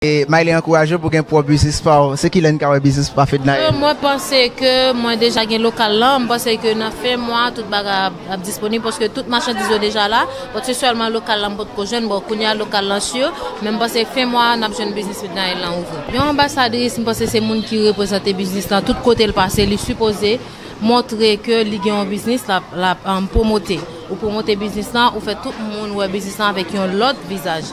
Maïly ankourajew pou gen pwòp biznis paw, se kilè n ka wè biznis pa Fednaelle? Eee mwen panse ke mwen deja gen lokal lan, m panse ke nan fen mwa tout bagay ap disponib paske tout machandiz yo deja la, donk se sèlman lokal lan m potko jwenn, bon kounya lokal lan sur, men m panse fen mwa a n ap jwenn biznis Fednaelle lan ouvri. Yon anbasadris m panse se moun ki reprezante biznis lan tout kote l pase, li sipoze montre ke li gen yon biznis l ap pwomote, ou pwomote biznis lan ou fè tout moun wè biznis lan avèk yon lòt vizaj.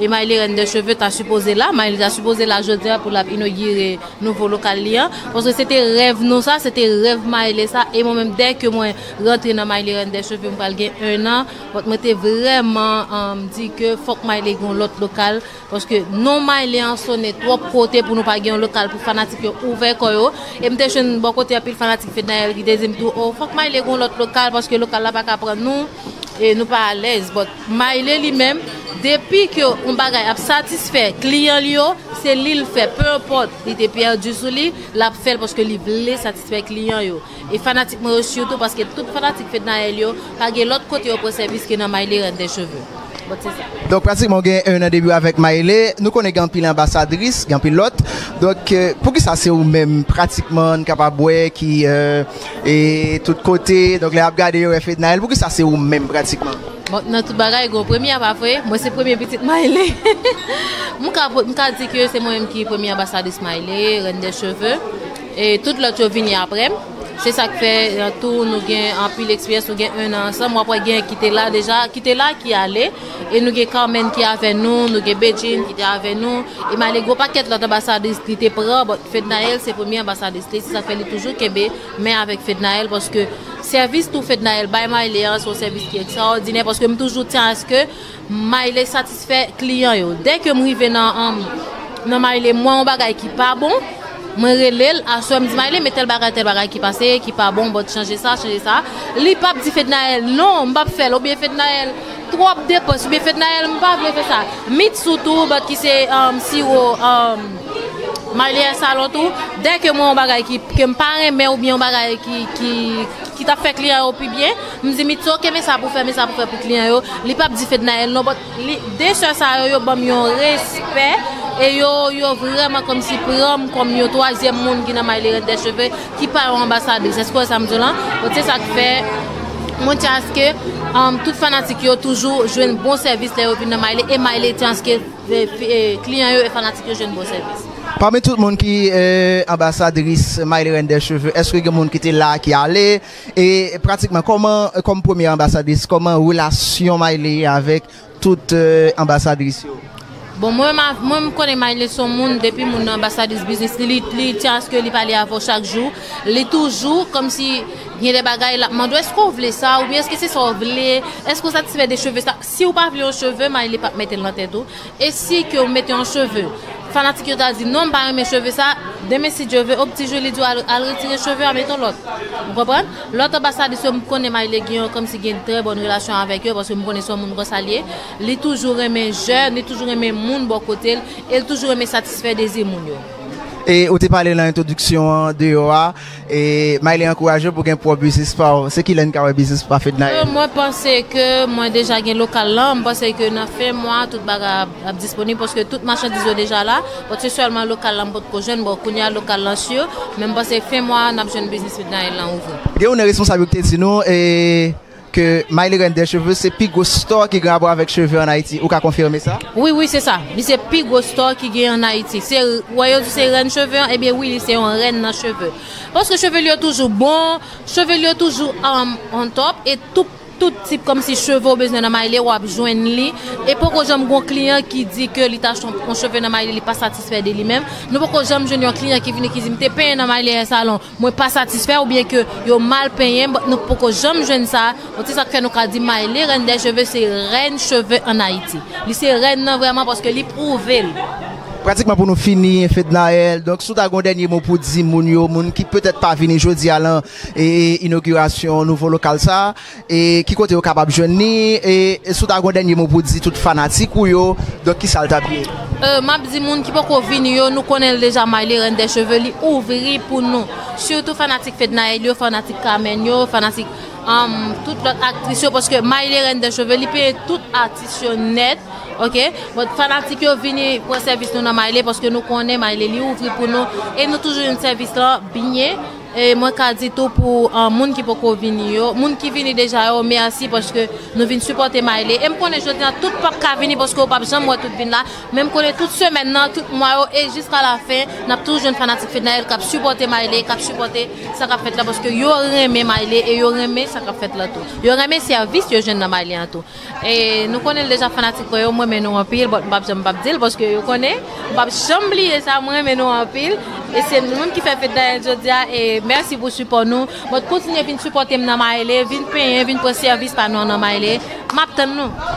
Emayle Reine de cheveux ta sipoze la, Mayli ta sipoze la jodia pou lap inogire nouvo lokal li an, paske se te rèv nou sa, se te rèv Mayle sa, e mwen menm dè ke mwen rantre nan Mayli Reine de cheveux m pral gen 1 an, but mwen te vrèman di ke fòk Mayli gen yon lòt lokal, paske non Mayli an sone twòp kote pou nou pa gen yon lokal pou fanatik yo ouvè kò yo, e m te jwenn bò kote anpil fanatik Fednaelle ki te di m tou oh fòk Mayli gen yon lòt lokal paske lokal la pa ka pran nou e nou pa alèz, but. Maile li menm, depi ke yon bagay ap satisfè kliyan li yo, se li l fè, peu importe li te perdu sou li, l ap fè l paske li vle satisfè kliyan yo. E fanatik mwen yo surtout paske tout fanatik Fednaelle yo pa gen lòt kote yo pran sèvis ke nan Maile Reine des cheveux. Bon se sa. Donk pratikman ou gen 1 an depi w avèk Maile, nou konnen gen anpil anbasadris, gen anpil lòt, donk poukisa se ou menm pratikman n kapab wè ki E tout kote, donk lè yap gade yo wè Fednaelle, poukisa se ou menm pratikman? Bon, nan tout bagay gen yon premye a pa vre? Mwen se premye pitit Maïly. M ka pot, m ka di ke se mwen menm ki premye anbasadris Maïly, Reine des cheveux, e tout lòt yo vini aprè m. Se sa k fè an tou nou gen anpil eksperyans, nou gen 1 an ansanm, wap wè gen ki te la deja, ki te la ki ale. E nou gen Carmène ki avè nou, nou gen Bedjine ki te avè nou, e malé gwo pakèt lòt anbasadris li te pran, but Fednaelle se premye anbasadris li, se sa k fè li toujou kenbe men avèk Fednaelle, paske sèvis tou Fednaelle bay Miley an se yon sèvis ki ekstraòdinè, paske m toujou tyen aske Miley satisfè kliyan yo. Dè ke m rive nan Miley m wè yon bagay ki pa bon, mwen rele l, aswè m di Miley men tèl bagay tèl bagay ki pase, ki pa bon, but chanje sa, chanje sa, li p ap di Fednaelle non, m p ap fè l, oubyen Fednaelle. Twòp depans oubyen fèt Nayèl m pa vle fè sa. Mit sou tou bat ki se siwo Marlies Salon tou, dè ke mwen yon bagay ki ke m pa renmen oubyen yon bagay ki ta fè kliyan yo pi byen, m di mit ok men sa pou fè men sa pou fè pou kliyan yo, li pap di fèt Nayèl non but de sè sa yo yo banm yon respè e yo yo vrèman kòmsi pran m kòm yon twazyèm moun ki nan Marlie Reine des cheveux ki pa yon anbasadris èske wè sa m di w lan donk se sa k fè mwen tyen aske tout fanatik yo toujou jwenn bon sèvis lè yo vin nan Mayle e Mayle tyen aske kliyan yo e fanatik yo jwenn bon sèvis. Pami tout moun ki anbasadris Mayle Reine des cheveux èske gen moun ki te la ki ale e pratikman kòman kòm premye anbasadris kòman relasyon Mayle avèk Tout anbasadris yo. Bon mwen mwen m konnen Maïle son moun depi moun nan anbasadris biznis li li li tyen aske li pale avè w chak jou li toujou kòmsi gen de bagay lap mande w eske w vle sa oubyen eske se sa w vle eske w satisfè de cheve sa si w pa vle yon cheve Maïle pap mete l nan tèt ou e si ke w mete yon cheve fanatik yo ta di non m pa renmen cheve sa demen si Dieu veut au pti jou li di w al retire cheve a mete yon lòt ou konprann. Lòt anbasadris yo m konnen may legen yo kòmsi gen trè bòn relasyon avèk yo paske m konnen se yon moun konsa l ye. Li toujou renmen jèn, li toujou renmen moun bò kote l e l toujou renmen satisfè dezi moun yo. E ou te pale lan entwodiksyon an deyò a, e Mayle ankouraje w pou gen pwòp biznis pa w. Se kilè n ka wè biznis pa Fednaelle? Mwen panse ke mwen deja gen lokal lan, m panse ke nan fen mwa a tout bagay ap. L ap disponib paske tout machandiz yo deja la. Bon se sèlman lokal la m potko jwenn. Bon kounye a lokal lan sur. Men m panse fen mwa a n ap jwenn Business Midnight lan ouvri. Gen youn nan responsab yo ki te di nou ke My Lirène des Cheveux se pi gwo store ki gen rapò avèk cheve an Ayiti. Ou ka konfime sa? Wi, wi se sa. Li se pi gwo store ki gen an Ayiti. Se, ou wè yo di se rèn cheve an, ebyen wi li se yon rèn nan cheve. Paske cheve li yo toujou bon, cheve li yo toujou on top e tout. Tout tip komsi cheve ou bezwen nan Mayle wap jwenn li e poko janm gon kliyan ki di ke li ta achte yon cheve nan Mayle li pa satisfè de li menm, nou poko janm jwenn yon kliyan ki vini ki di m te penyen nan Mayle hair salon mwen pa satisfè oubyen ke yo mal penyen m nou poko janm jwenn sa, bon se sak fè nou ka di Mayle reine des cheveux se rèn cheve an Ayiti. Li se rèn nan vrèman paske li pwouve l. Pratikman pou nou fini Fednaelle, donk si w ta gen yon dènye mo pou di moun yo, moun ki petèt pa vini jodi a lan inogirasyon nouvo lokal sa e ki kote yo kapab jwenn li e si w ta gen yon dènye mo pou w di tout fanatik ou yo donk ki sa l t ap ye? M ap di moun ki poko vini yo nou konnen l deja Marly reine des cheveux li ouvri pou nou sitou fanatik Fednaelle yo fanatik Carmène yo fanatik tout lòt aktris yo paske Marly reine des cheveux li peye tout atis yo nèt ok bon fanatik yo vini pran sèvis nou nan Marly paske nou konnen Marly li ouvri pou nou e nou toujou jwenn sèvis lan byen. E mwen ka di tou pou moun ki poko vini yo, moun ki vini deja yo mèsi paske nou vin sipòte Mayle e m konnen jodi an tout pap ka vini paske yo pap janm wè tout vin la men m konnen tout semèn nan tout mwa yo e jiska lafen n ap toujou jwenn fanatik Fednaelle k ap sipòte Mayle k ap sipòte sa k ap fèt la paske yo renmen Mayle e yo renmen sa k ap fèt la tou yo renmen sèvis yo jwenn nan Mayle an tou. E nou konnen l deja fanatik mwen yo m renmen nou anpil but m pap janm pap dil paske yo konnen m pap janm bliye sa m renmen nou anpil e se nou menm ki fè fete Daniel jodia e mèsi pou sipò nou but kontinye vin sipòte m nan Maele vin penyen vin pran sèvis pa nou an nan Maele map tann nou.